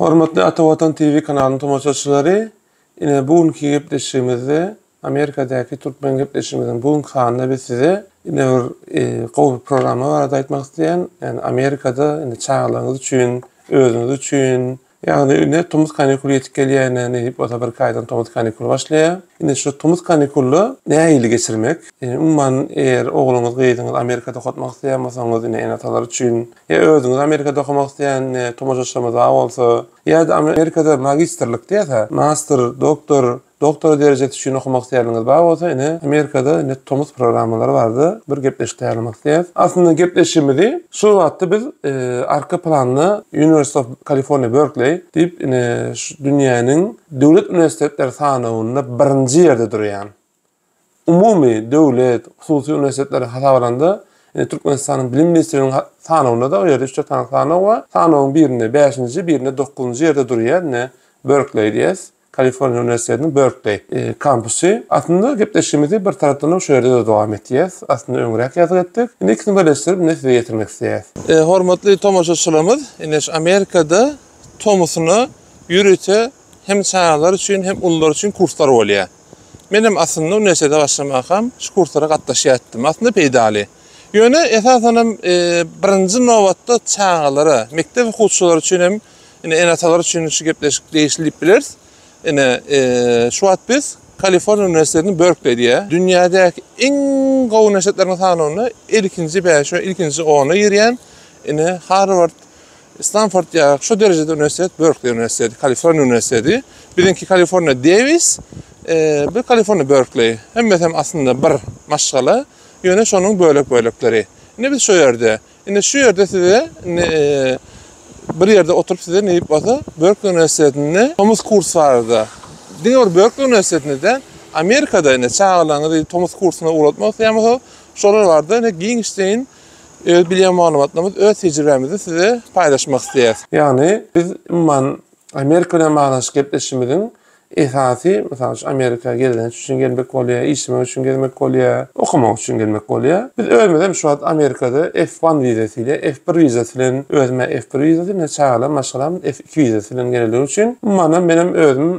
Hormatly Ata Watan TV kanalynyň tomaşaçylary, ine bu günki gepleşigimizde Amerikadaky türkmen gepleşigimiziň bu günki sanynda biz size ine bir e, gowy bir programma barada aýtmak isleýän. Ýani Amerikada indi çagalarňyz üçin, özüňiz üçin Ýagny indi tomus kanikuly ýetip gelýär ine ne diýip bolsa bir kaýdan tomus kanikuly başlaýar. Indi şu tomus kanikulda nähili geçirmek? Indi umuman eger ogluňyz gyzyňyz Amerikada okatmak isleýän bolsaňyz indi ene atalar üçin ýa özüňiz Amerikada okamak isleýän indi tomaşaçylarymyz bar bolsa ýa-da Amerikada magistrlik diýýär master doktor Doktora derejesi üçin okamak isleýänleriňiz bar bolsa ine Amerikada indi tomus programmalary bardy bir gepleşik taýýarlamak isleýäs. Aslynda gepleşigimizi şu wagtda biz arka planda University of California Berkeley diýip ine şu dünýäniň döwlet uniwersitetleri sanawynda birinji ýerde durýan umumy, döwlet, hususy uniwersitetleri hasaba alanda, indi Türkmenistanyň Bilim ministrliginiň sanawynda-da o ýerde üç-dört sany sanaw bar. Sanawyň birinde bäşinji, birinde dokuzynjy ýerde durýar, ine, Berkleý diýýäs, Kaliforniýa uniwersitetiniň Berkleý kampusy. Aslynda gepleşigimizi bir tarapdanam şu ýerde-de dowam etýäs. Aslynda öňräk ýazgy etdik. Indi ikisini birleşdirip indi size ýetirmek isleýäs. Hormatly tomaşaçylarymyz, ine şu Amerikada tomusyna ýörite hem çagalar üçin, hem ulular üçin kurslar bolýar. Menem aslynda uniwersitete başlamakam şu kurslara gatnaşýar etdim. Aslynda peýdaly. Ýöne esasan hem birinji nobatda çagalara, mekdep okuwçylary üçin hem ine ene-atalar üçin şu gepleşik degişli diýip bileris. Ine şu wagt biz Kaliforniýa uniwersitetiniň Berkleý diýýär. Dünýädäki iň gowy uniwersitetleriň sanawynda ilkinji bäşe, ilkinji ona girýän ine Harward Stanford ýa şu derejede uniwersitet Berkli uniwersiteti, Kaliforniýa uniwersiteti. Biziňki Kaliforniýa Davis, bir Kaliforniýa Berkli. Hemmesi hem aslynda bir maşgala, ýöne şonuň bölek-bölekleri. Indi biz şu ýerde. Indi şu ýerde size bir ýerde oturyp size neýip bolsa Berkli uniwersitetinde tomus kurs barada. Diňe bir Berkli uniwersitetinde däl, Amerikada indi çagalaryňyzy tomus kursuna ugratmak isleýän bolsa, şolar barada indi giňişleýin öz bilýän maglumatlarymyz, öz tejribämizi size paýlaşmak isleýäs. Ýagny biz umuman Amerika bilen baglanyşyk gepleşişimiziň esasy, mysal üçin, Amerika gezelenç üçin gelmek bolýar, işlemek üçin gezmek bolýar, okamak üçin gelmek bolýar. Biz özümiz hem şu wagt Amerikada F one wizasy ile, F bir wizasy bilen, özüm hem F bir wizasy bilen, çagalarym, maşgalam F iki wizasy bilen gelenligi üçin, umuman hem men hem özüm,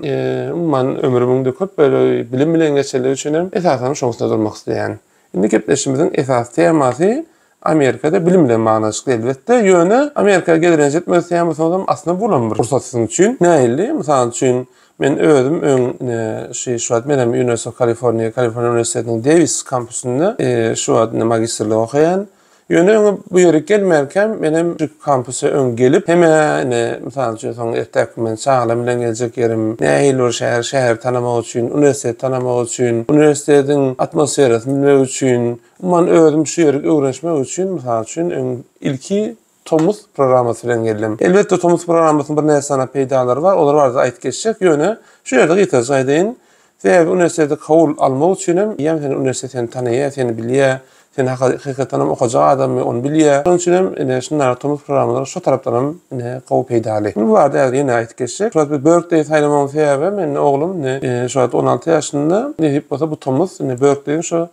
umuman ömrümiň-de köp bölegi bilim bilen geçenligi üçin hem esasan şoň üstünde durmak isleýän. Indi gepleşigimiziň esasy temasy Amerikada bilim bilen baglanyşykly elbetde. Ýöne Amerika gelerenç etmez temasyňyzam aslynda bulam bir pursat siziň üçin. Nähili? Mysal üçin, men özüm öň ine şi şu wagt men hem University of California, Kaliforniýa uniwersitetiniň Dewis kampusynda şu wagt ine magistrlik okaýan. Ýöne öňe bu ýere gelmänkäm menem şu kampusa öň gelip, hemä ine, mysal üçin, soň erteki gün men çagalarym bilen geljek ýerim, nähili bir şäher, şäheri tanamak üçin, uniwersiteti tanamak üçin, uniwersitetiň atmosferasyny bilmek üçin, umuman özüm şu ýeri öwrenişmek üçin, mysal üçin, öň ilki Tomus programmasy bilen geldim. Elbetde Tomus programmasynyň birnäçe sany peýdalary bar, olar barada aýdyp geçjek, ýöne şu ýerde gysaca aýdaýyn. Sebäbi uniwersitete kabul almak üçin hem eýýäm seni uniwersitet seni tanaýar, seni bilýär, sen hakykatdan hem okajak adammy ony bilýär. Şonuň üçin hem ine şunda Tomus programmalary şo tarapdan hem ine gowy peýdaly. Bu barada häzir ýene aýdyp geçjek. Şu wagt biz Berkleýi saýlamagymyň sebäbi hem indi oglum indi şu wagt on alty ýaşynda nesip bolsa bu tomus indi Berkleýiň şu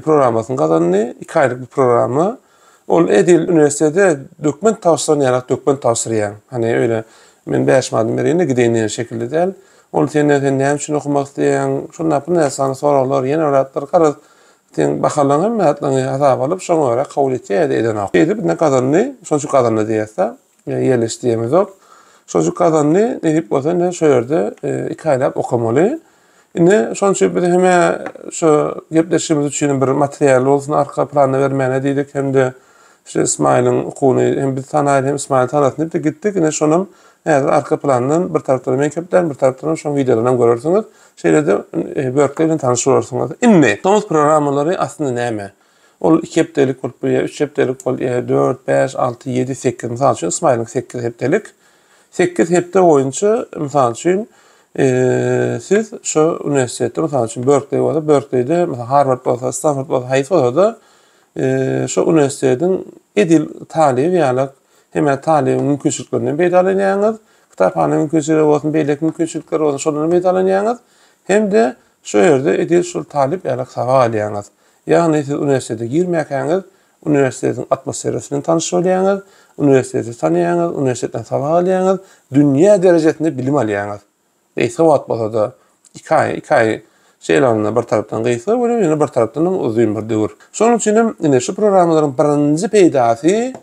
programmasyny gazandy. Iki aýlyk bir programma. Ol edil uniwersitete dokument tabşyran ýalak dokument tabşyrýaň. Hany öýle men bäş manadymy bereýin-de gideýin diýen şekilli däl. Ol senden sen näme üçin okamak isleýäň, şunda bu näçe sany soraglar, ýene bir zatlar garaz seň bahalaryňy hemme zatlaryňy hasaba alyp şoňa görä kabul etýär ýa-da edenok. Şeýdip indi gazandy, şonça gazandy diýersiň. Ýöne ýerleş diýemizok. Şojik gazandy, nesip bolsa indi şu ýerde e, iki aýlap okamaly. Indi şonuň üçin biz hem şu gepleşigimiz üçin bir material bolsun arka planda bermäne diýdik hem-de şu Ismaýylyň okuny hem biz tanaýyl hem Ismaýyl tanasyn diýip gitdik. Indi şonam häzir arka plandan bir tarapdan men köpden bir tarapdan şoň videolaryny görersiňiz. Şeýle-de e, börkler bilen tanyş bolarsyňyz. Indi tomus programmalary aslynda näme? Ol iki hepdelik bolup bilýär, üç hepdelik bolýar, dört, bäş, alty, ýedi, sekiz. Mysal üçin, Smile-yň sekiz hepdelik. Sekiz hepde boýunça, mysal üçin, siz şo uniwersitetde, mysal üçin, Berkleý bolsa, Berkleýde, mysal, Harward bolsa, Stanford bolsa, haýsy bolsa-da, şo uniwersitetiň edil talyby ýaly hemme talybyň mümkinçiliklerinden peýdalanýaňyz, kitaphana mümkinçiligi bolsun, beýleki mümkinçilikler bolsun, şondan peýdalanýaňyz hem-de şo ýerde edil şol talyp ýaly sabak alýaňyz. Ýagny siz uniwersitete girmäkäňiz, uniwersitetiň atmosferasy bilen tanyş bolýaňyz, uniwersiteti tanaýaňyz, uniwersitetden sabak alýaňyz, dünýä derejesinde bilim alýaňyz. Gysga wagt bolsa-da, iki aý, iki aý şeýle alanda bir tarapdan gysga welin, ýöne bir tarapdanam uzyn bir döwür. Şonuň üçin hem ine şu programmalaryň birinji peýdasy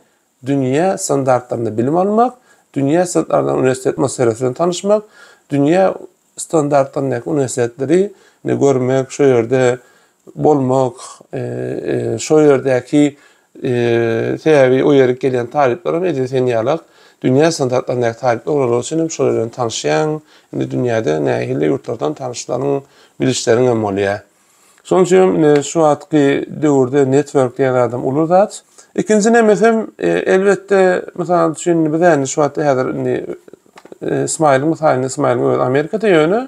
dünýä standartlarynda bilim almak, dünýä standartlarynda uniwersitet atmosferasy bilen tanyşmak, dünýä standartlaryndaky uniwersitetleri ne görmek, şo ýerde bolmak, şo ýerdäki sebäbi o ýere gelýän talyplar hem edil sen ýalak dünýä standartlaryndaky talyplar bolanlar üçin hem şolar bilen tanyşýaň. Indi dünýäde nähili ýurtlardan tanyşlaryň, bilişleriň hem bolýar. Şonuň üçin hem e, şu wagtky döwürde network diýen adam uly zat. Ikinji nemesem e, elbetde mysal üçin biz indi şu wagtda häzir indi e, Smile mysalyny Smile öz Amerikada ýöne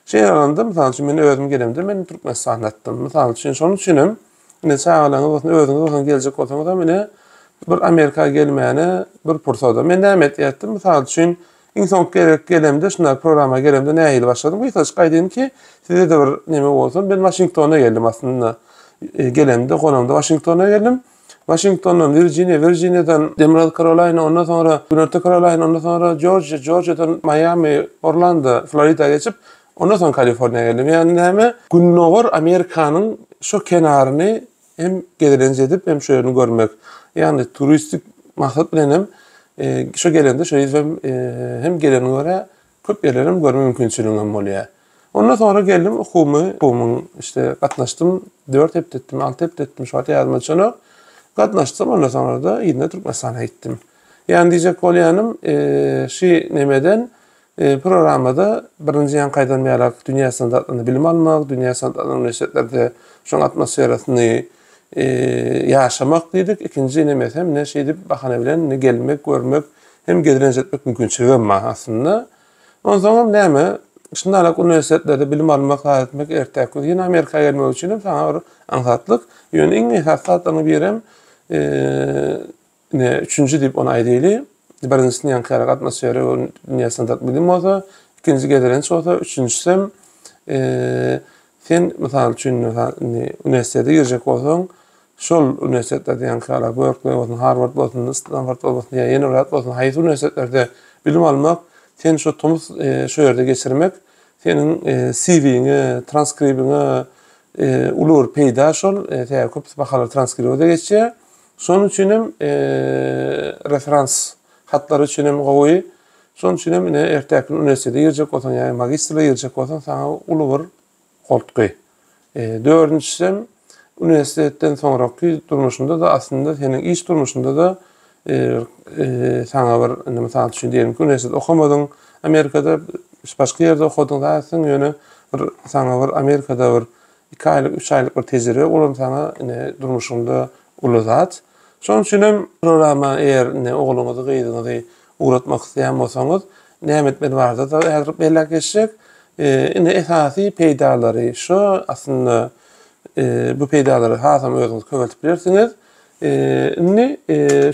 şey alanda mysal üçin men özüm gelemde men Türkmenistanda atdym. Mysal üçin şonuň üçin hem indi çagalaryňyz bolsun özüňiz bolsun geljek bolsaňyz hem indi bir Amerika gelmäne bir pursada. Men näme etýärdim? Mysal üçin Iň soňky gezek gelemde, şunda programa gelemde nähili başladym? Gysgaça aýdaýyn ki, size-de bir neme bolsun, men Waşingtona geldim aslynda. Gelemde, gonamda Waşingtona geldim. Waşingtondan Wirjiniýa, Wirjiniýadan Demirgazyk Karolaýna, ondan soňra Günorta Karolaýna, ondan soňra Jorjiýa, Jorjiýadan Maýami, Orlando, Florida geçip, ondan soň Kaliforniýa geldim. Ýagny näme? Gündogar Amerikanyň şo kenaryny Hem gezelenç edip, hem şu ýerini görmek. Ýagny turistik maksat bilen hem e, şu gelende şu hem e, hem geleni görä, köp ýerleri hem görme mümkinçiligim hem bolýar. Ondan sonra geldim okumy, okumyň işte gatnaşdym, 4 hepde etdim, 6 hepde etdim, şu wagt ýadyma düşenok. Gatnaşdym, ondan sonra da ýene Türkmenistana gitdim. Ýani diýjek bolýanym, e, şu nemeden Programmada birinji ýaňkaýdan bärak dünýä standartlarynda bilim almak, dünýä standartlanan uniwersitetlerinde şoň atmosferasyny ýaşamak diýdik, ikinji ine mesem ine şeýdip bahana bilen indi gelmek, görmek hem gezlenç etmek mümkinçiligem bar aslynda. Onsoňam näme, şundalak uniwersitetlerde bilim almak, zat etmek ertäk gün ýene Amerika gelmek üçinem saňa bir aňsatlyk. Ýöne iň esasy zatlaryň birem Ine, üçünji diýip ony aýdaýly. Birinjisini ýaňky ýarak atmosfera we dünýä standart bilim bolsa, ikinji gezelenç bolsa, üçünjisem, sen mysal üçin, indi uniwersitete girjek bolsaň, şol uniwersitetlerde ýaňky ýarak Berkleý bolsun, Harward bolsun, Stanford bolsun ýa ýene bir zat bolsun, haýsy uniwersitetlerde bilim almak, sen şu tomus şu ýerde geçirmek, seniň CV-ňe, transkribiňe uly bir peýda şol, sebäbi köpüsi bahalar transkriba-da geçýär. Şonuň üçin hem referans hatlary üçin hem gowy. Şonuň üçin hem ine ertäki gün uniwersitete girjek bolsaň ýa magistrlige girjek bolsaň saňa uly bir goltgy. E, dördünjisi hem uniwersitetden soňraky durmuşynda da aslynda seniň iş durmuşynda da e, e, saňa bir indi mysal üçin diýelim ki uniwersitet okamadyň Amerikada başga ýerde okadyň zaten ýöne bir saňa bir Amerikada bir Iki aýlyk, üç aýlyk bir tejribe bolan saňa ine durmuşyňda uly zat. Şonuň üçin hem programa eger ine ogluňyzy, gyzyňyzy ugratmak isleýän bolsaňyz, näme etmeli barada-da häzir belläp geçjek. Ine esasy peýdalary şu aslynda bu peýdalary hasam özüňiz köpeltip bilersiňiz. Indi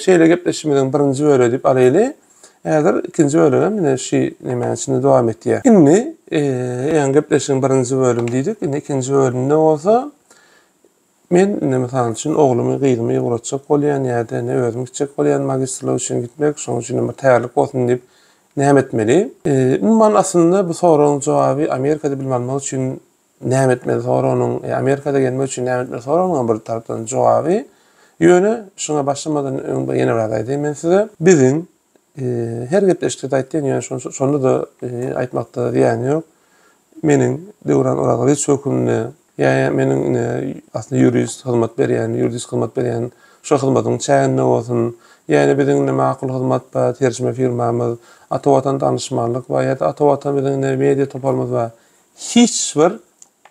şeýle gepleşigimiziň birinji bölegi diýip alaýly. Häzir ikinji bölegem ine şu nemäniň içinde dowam etýär. Indi eýýäm gepleşigiň birinji bölümi diýdik. Indi ikinji bölümde bolsa men indi mysal üçin oglumy, gyzymy ýygratjak bolýan ýa-da indi özüm gitjek bolýan magistrlik üçin gitmek, şonuň üçin bir taýýarlyk bolsun diýip näme etmeli? Umuman aslynda bu soragyň jogaby Amerikada bilim almak üçin Näme etmeli soragynyň, Amerikada gelmek üçin näme etmeli soragynyň bir tarapdan jogaby, ýöne şuňa başlamazdan öň bir ýene bir zat aýdaýyn men size. Biziň her gepleşikde-de aýtýan, ýöne şonda-da aýtmakda zyýan ýok. Meniň Döwran Orazgaliç hökmünde ýa meniň ine aslynda ýurist hyzmat berýän, ýuridisk hyzmat berýän şo hyzmatyň çäginde bolsun, ýa ine biziň ine Makul Hyzmat bar, terjime firmamyz, Ata Watan Danyşmanlyk bar ýa-da Ata Watan biziň ine media toparymyz bar. Hiç bir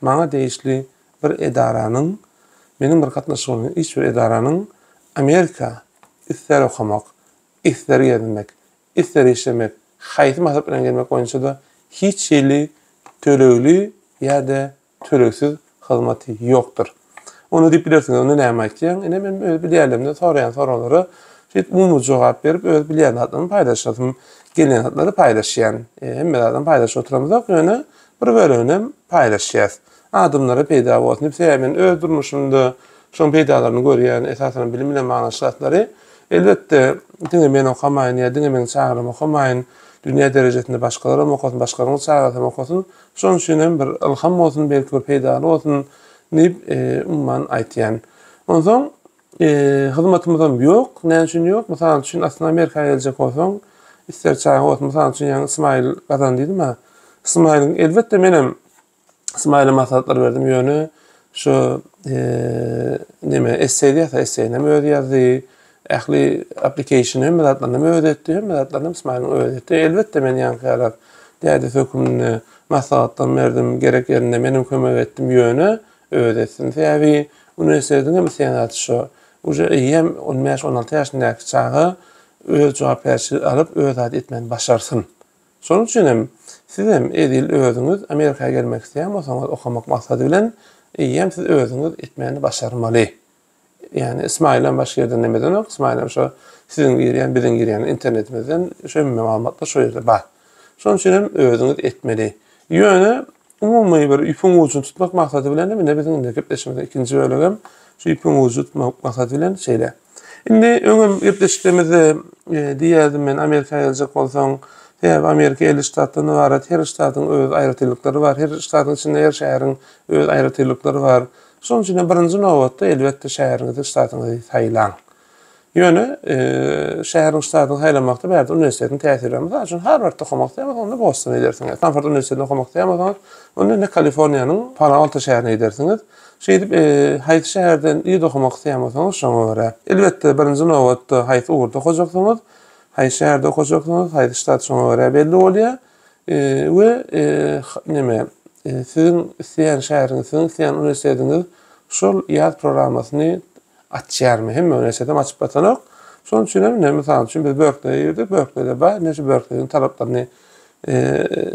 maňa degişli bir edaranyň, meniň bir gatnaşygym bolan hiç bir edaranyň Amerika isler okamak, isler gezmek, isler işlemek, haýsy maksat bilen gelmek boýunça-da hiç hili tölegli ýa-da tölegsiz hyzmaty ýokdur. Onda diýip bilersiňiz, onda näme aýtýaň? Ine, men öz bilýänlerimden soraýan soraglara şeýdip umumy jogap berip, öz bilýän zatlarymy paýlaşasym gelýän zatlary paýlaşýan. Hemme zadam paýlaşyp oturamyzok, ýöne bir böleginem paýlaşýas. Adamlara peýda bolsun diýip, sebäbi men öz durmuşymda şoň peýdalaryny görýän, esasanam bilim bilen baglanyşykly zatlary. Elbetde, diňe men okamaýyn ýa diňe meň çagalarym okamaýyn, dünýä derejesinde başgalaram okasyn, başgalaryň çagasam okasyn. Şonuň üçin hem bir ylham bolsun, belki bir peýdaly bolsun diýip, umuman aýtýan. Onsoň hyzmatymyzam ýok. Näme üçin ýok? Mysal üçin, aslynda Amerika geljek bolsaň, isleg çaga bolsun. Mysal üçin, ýaňy Smile gazan diýdim-ä. Smile-iň elbetde menem Smile-e maslahatlar berdim, ýöne şu neme esseý diýýärse, esseýinem özi ýazdy. Ähli aplikeyşini hemme zatlaryny hem özi etdi, hemme zatlaryny hem Smaliň özi etdi. Elbetde men ýaňky ýalak dädesi hökmünde maslahatlarym berdim, gerek ýerinde menem kömek etdim, ýöne özi etsin. Sebäbi uniwersitetiň hem isleýän zady şo. Uje eýýäm on bäş, on alty ýaşyndaky çaga öz jogapkärçilik alyp, öz zady etmegini başarsyn. Şonuň üçin hem siz hem edil özüňiz Amerika gelmek isleýän bolsaňyz, okamak maksady bilen, eýýäm siz özüňiz etmegini başarmaly. Ýani Ismaýylam başga ýerden nemedenok, Ismaýylam şo siziň girýän, biziň girýän internetimizden şu hemme maglumatlar şo ýerde bar. Şonuň üçin hem özüňiz etmeli. Ýöne umumy bir ýüpüň ujuny tutmak maksady bilen hem indi biziň indi gepleşigimiziň ikinji bölegem şu ýüpüň ujuny tutmak maksady bilen şeýle. Indi öňem gepleşiklerimizde e, diýerdim men Amerika geljek bolsaň, sebäbi Amerika 50 ştatdan ybarat, her ştatyň öz aýratynlyklary bar, her ştatyň içinde her şäheriň öz aýratynlyklary bar. Şonuň üçin-de birinji nobatda, elbetde, şäheriňizi, ştatyňyzy saýlaň. Ýöne, şäheriňizi, ştatyňyzy saýlamakda bärde uniwersitetiň täsiri bar. Mysal üçin, Harwardda okamak isleýäňiz, onda Bostona gidersiňiz. Stanford uniwersitetinde okamak isleýänbolsaňyz, onda indi Kaliforniýanyň Palo-Alto şäherine gidersiňiz. Şeýdip, haýsy şäherde ýigit okamak isleýän bolsaňyz, şoňa görä. Elbetde, birinji nobatda, haýsy ugurda okajakdygyňyz, haýsy şäherde okajakdygyňyz, haýsy ştat, şoňa görä belli bolýar. we neme, siziň isleýän şäheriňiz, siziň isleýän uniwersitetiňiz şol ýaz programmasyny açýarmy, hemme uniwersitetem açyp batanok. Şonuň üçin hem, ine, mysal üçin biz Berkleýe girdik, Berkleýde bar, ine şu Berkleýiň talaplaryny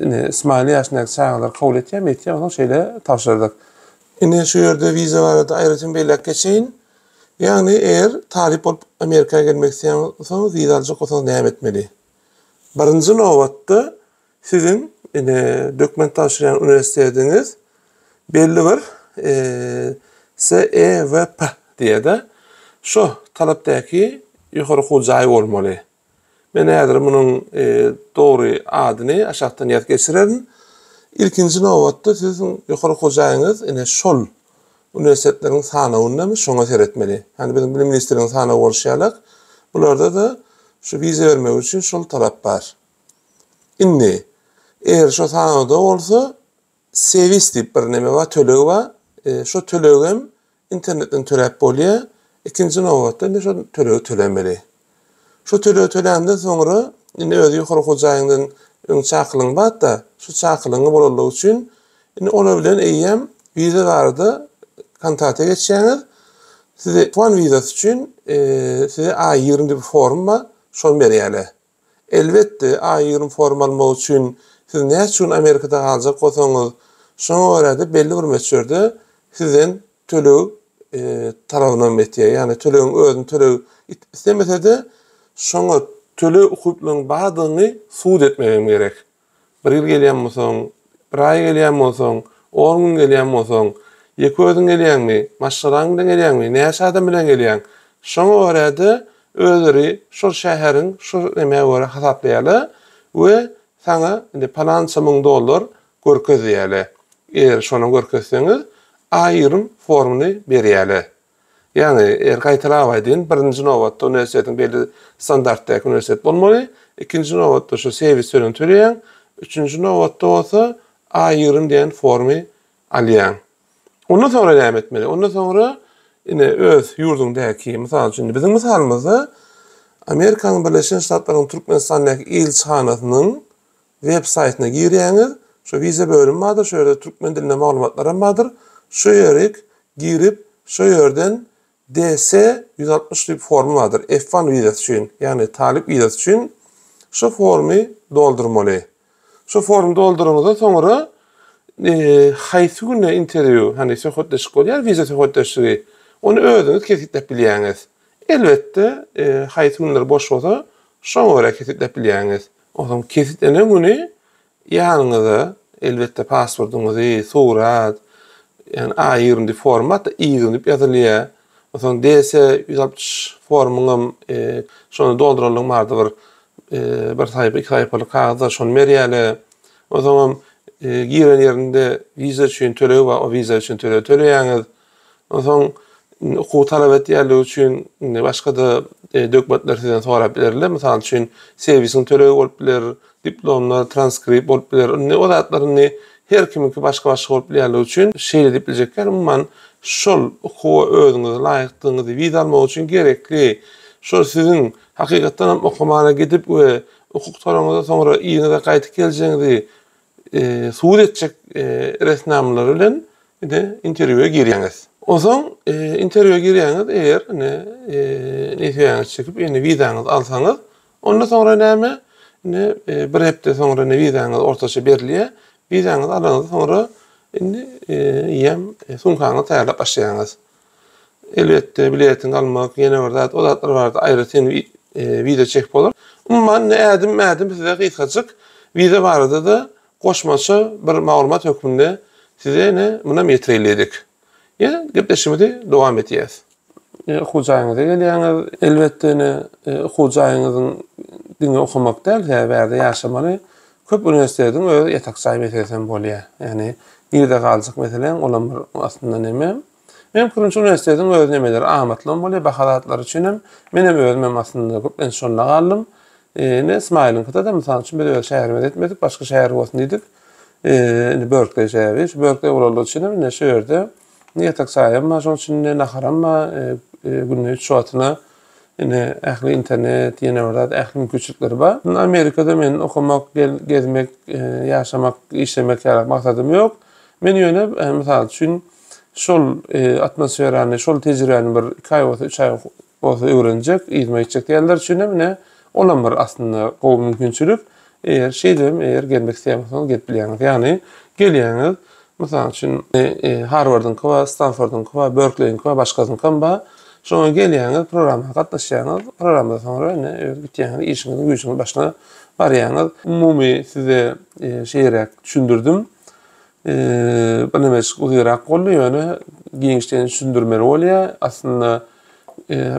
ine Smali ýaşyndaky çagalar kabul etýärmi, etýär, onsoň şeýle tabşyrdyk. Ine şu ýerde wiza barada aýratyn belläp geçeýin. Ýagny eger talyp bolup Amerika gelmek isleýän bolsaňyz, wiza aljak bolsaňyz näme etmeli? Birinji nobatda, siziň ine dokument tabşyrýan uniwersitetiňiz belli bir CEVP diýýär-de, şo talapdaky ýokary okuw jaýy bolmaly. Men häzir munuň dogry adyny aşakdan ýazyp geçirerin. Ilkinji nobatda, siziň ýokary okuw jaýyňyz ine şol Uniwersitetleriň sanawyndamy, şoňa seretmeli. Hany biziň bilim ministrligiň sanawy bolşy ýalak, bularda-da şu wiza bermek üçin şol talap bar. Indi, eger şo sanawda bolsa, sevis diýip bir neme bar, tölegi bar. Şo tölegem internetden töläp bolýar. Ikinji nobatda, indi şo tölegi tölemeli. Şu töleg töländen soňra, indi özi ýokary hojaýyňdan öň çakylygyň bat-da, şu çakylygyňy bolanlygy üçin, indi olar bilen eýýäm wiza barada kontrata geçýäňiz. Size tuan wizasy üçin size A ýigrimi diýip form bar, şony berýärler. Elbetde, A ýigrimi formy almak üçin siz näçe gün Amerikada galjak bolsaňyz, şoňa görä-de belli bir möçberde sizden töleg talabynam etýär. Ýagny tölegiň özüni töleg islemese-de, şoňa töleg ukyplygyň bardygyny subut etmek hem gerek. Bir ýyl gelýän bolsaň, bir aý gelýän bolsaň, on gün gelýän bolsaň, ýeke özüň gelýäňmi, maşgalaň bilen gelýäňmi, näçe adam bilen gelýäň? Şoňa görä-de, özleri şol şäheriň şu nämä görä hasaplaýarlar we saňa indi palança müň dollar görkezýärler. Eger şony görkezseňiz, aýrym formny berýärler. Ýagny, eger gaýtalap aýdýyn, birinji nobatda uniwersitetiň belli standartdaky uniwersitet bolmaly, ikinji nobatda şu serwis tölegini töleýäň, üçünji nobatda bolsa aýrym diýen formy alýaň. Ondan soňra näme etmeli? Ondan soňra ine öz ýurduňdaky, mysal üçin indi biziň mysalymyzda Amerikanyň Birleşen Ştatlarynyň Türkmenistandaky ilçihanasynyň web saýtyna girýäňiz. Şu wiza bölümi bardyr, şu ýerde türkmen dilinde maglumatlar hem bardyr. Şu ýerik girip, şu ýerden DS ýüz altmyş diýip forma bardyr. F-one wizasy üçin, ýagny talyp wizasy üçin şu formy doldurmaly. Şu formy dolduryňyzdan soňra haýsy günde interwýu, hany söhbetdeşlik bolýar, wiza söhbetdeşligi, ony özüňiz kesgitläp bilýäňiz. Elbetde, haýsy günler boş bolsa, şoňa görä kesgitläp bilýäňiz. Onsoň kesgitlenen güni ýanyňyza, elbetde, pasportyňyzy, surat, ýagny A ýigrimi diýip formatda I ýigrimi diýip ýazylýar. Onsoň DS ýüz altmyş formuňam şony dolduralyň barda bir bir saýpa, iki saýpalyk kagyzlar şony berýärler. Onsoňam giren ýerinde wiza üçin tölegi bar, o wiza üçin tölegi töleýäňiz. Onsoň indi okuw talap etýänligi üçin indi başga-da e, dokumentler sizden sorap bilerler. Mysal üçin, servisiň tölegi bolup biler, diplomlar, transkript bolup biler. Indi o zatlar indi her kimiňki başga-başga bolup bilýänligi üçin şeýle diýip biljek ýaly, umuman şol okuwa özüňizi laýykdygyňyzy wiza almak üçin gerekli, şol siziň hakykatdan hem okumana gidip we hukuk toraňyzda soňra yzyňyza gaýdyp geljegiňizi subut etjek resminamalar bilen indi interwýua girýäňiz. Onsoň interwýua girýäňiz, eger indi nesiýäňizi çekip, indi wizaňyzy alsaňyz, onda soňra näme? Indi bir hepde soňra indi wizaňyz ortaça berilýär. Wizaňyzy alanyňyzdan soňra indi eýýäm sumkaňyzy taýýarlap başlaýaňyz. Elbetde biletiňi almak ýene bir zat, o zatlar barada aýry sen wideo çekip bolar. Umuman indi ädim ädim size gysgajyk wiza barada-da goşmaça bir maglumat hökmünde size ine munam ýetireýledik. Ýa gepleşigimizi dowam edýäs. Okuw jaýyňyza gelýäňiz. Elbetde ine okuw jaýyňyzyň diňe okamak däl sebäbi bärde ýaşamaly. Köp uniwersitetiň öz ýatak jaý meselesi hem bolýar. Ýagny girde galjak meseleň olam bir aslynda neme. Meň pikirimçe uniwersitetiň öz nemeleri amatly hem bolýar baha zatlary üçin hem. Men hem özüm hem aslynda köplenç şonda galdym. Indi Smailyňkyda da mysal üçin biz öz şäherimize ýetmedik başga şäher bolsun diýdik. Indi Berkleý şäheri şu Berkleý bolandygy üçin hem indi şu ýerde Indi ýatak jaýam bar, şonuň üçin indi naharam bar. Günde üç wagtyna indi ähli internet, ýene bir zat, ähli mümkinçilikleri bar. Indi Amerikada meniň okamak, gezmek, ýaşamak, işlemek ýaly maksadym ýok. Men ýöne, mysal üçin, şol atmosferany, şol tejribäni bir iki aý bolsa, üç aý bolsa öwrenjek, yzyma gitjek diýenler üçin hem ine, olam bir aslynda gowy mümkinçilik. Eger şeýdip hem eger gelmek isleýän bolsaňyz gelip bilýäňiz. Ýagny gelýäňiz, mysal üçin, Harwardyňky bar, Stanfordyňky bar, Berkleýiňki bar, başgasynyňky hem bar. Şoňa gelýäňiz, programma gatnaşýaňyz, programmadan soňra ine öz gitýäňiz, işiňiziň, güýjüňiziň başyna barýaňyz. Umumy size şeýeräk düşündirdim. bir näme uzynrak boldy ýöne giňişleýin düşündirmeli bolýar. Aslynda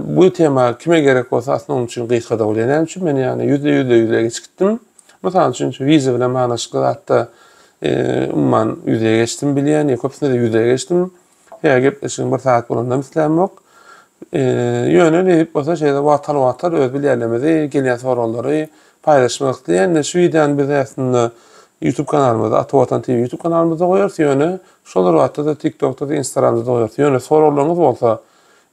bu tema kime gerek bolsa aslynda onuň üçin gysga-da bolýar. Näme üçin men ýagny ýüzde ýüzde ýüzle geçip gitdim. Mysal üçin şu wiza bilen baglaşykly zatda umuman ýüzle geçdim bilýän, ýa köpüsinde-de ýüzle geçdim. Hä, gepleşigiň bir sagat bolanynam islämok. Ýöne nebit bolsa şeýle wagtalwatar öz bilýänlerimizi, gelýän soragylary paýlaşmak isleýändir. Şu wideony biz aslynda YouTube kanalymyzda, Ata Watan TV YouTube kanalymyzda goýarys, ýöne şol bir wagtda-da TikTokda-da, Instagramda-da goýarys. Ýöne soraglaryňyz bolsa,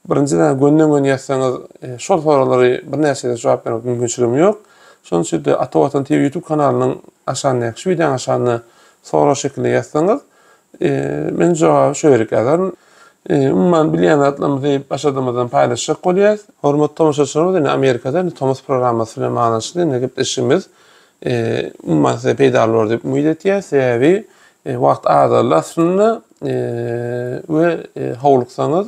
birinjiden gönden-göni ýazsaňyz, şol soraglary birnäçede jogap bermek mümkinçiligim ýok. Şonuň üçin-de Ata Watan TV YouTube kanalynyň aşagyndaky, şu wideonyň aşagynda sorag şekilde ýazsaňyz, Men jogaby şu ýerik ýazaryn. Umuman bilýän zatlarymyzy başardygymyzdan paýlaşjak bolýas. Hormatly tomaşaçylarymyz indi Amerikada indi tomus programmasy bilen baglanyşykly indi gepleşigimiz umuman size peýdaly bolar diýip umyt etýäs. Sebäbi wagt azaldy aslynda we howluksaňyz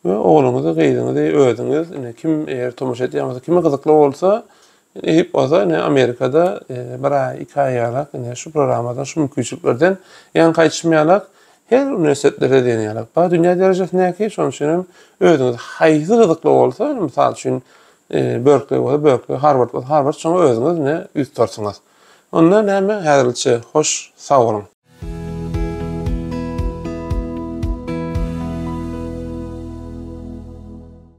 we ogluňyzy gyzyňyzy özüňiz indi kim eger tomaşa etýän bolsa kime gyzykly bolsa Eýýp bolsa indi Amerikada bir aý, iki aý ýaly indi şu programmadan, şu mümkinçiliklerden ýaňa gaýdyşym ýaly her uniwersitetleri diýen ýaly bar dünýä derejesindäki. Şonuň üçin hem özüňiz haýsy gyzykly bolsa, mysal üçin Berkleý bolsa Berkleý, Harward bolsa Harward şoňa özüňiz indi ýüz tutarsyňyz. Onda näme häzirlikçe hoş sag boluň.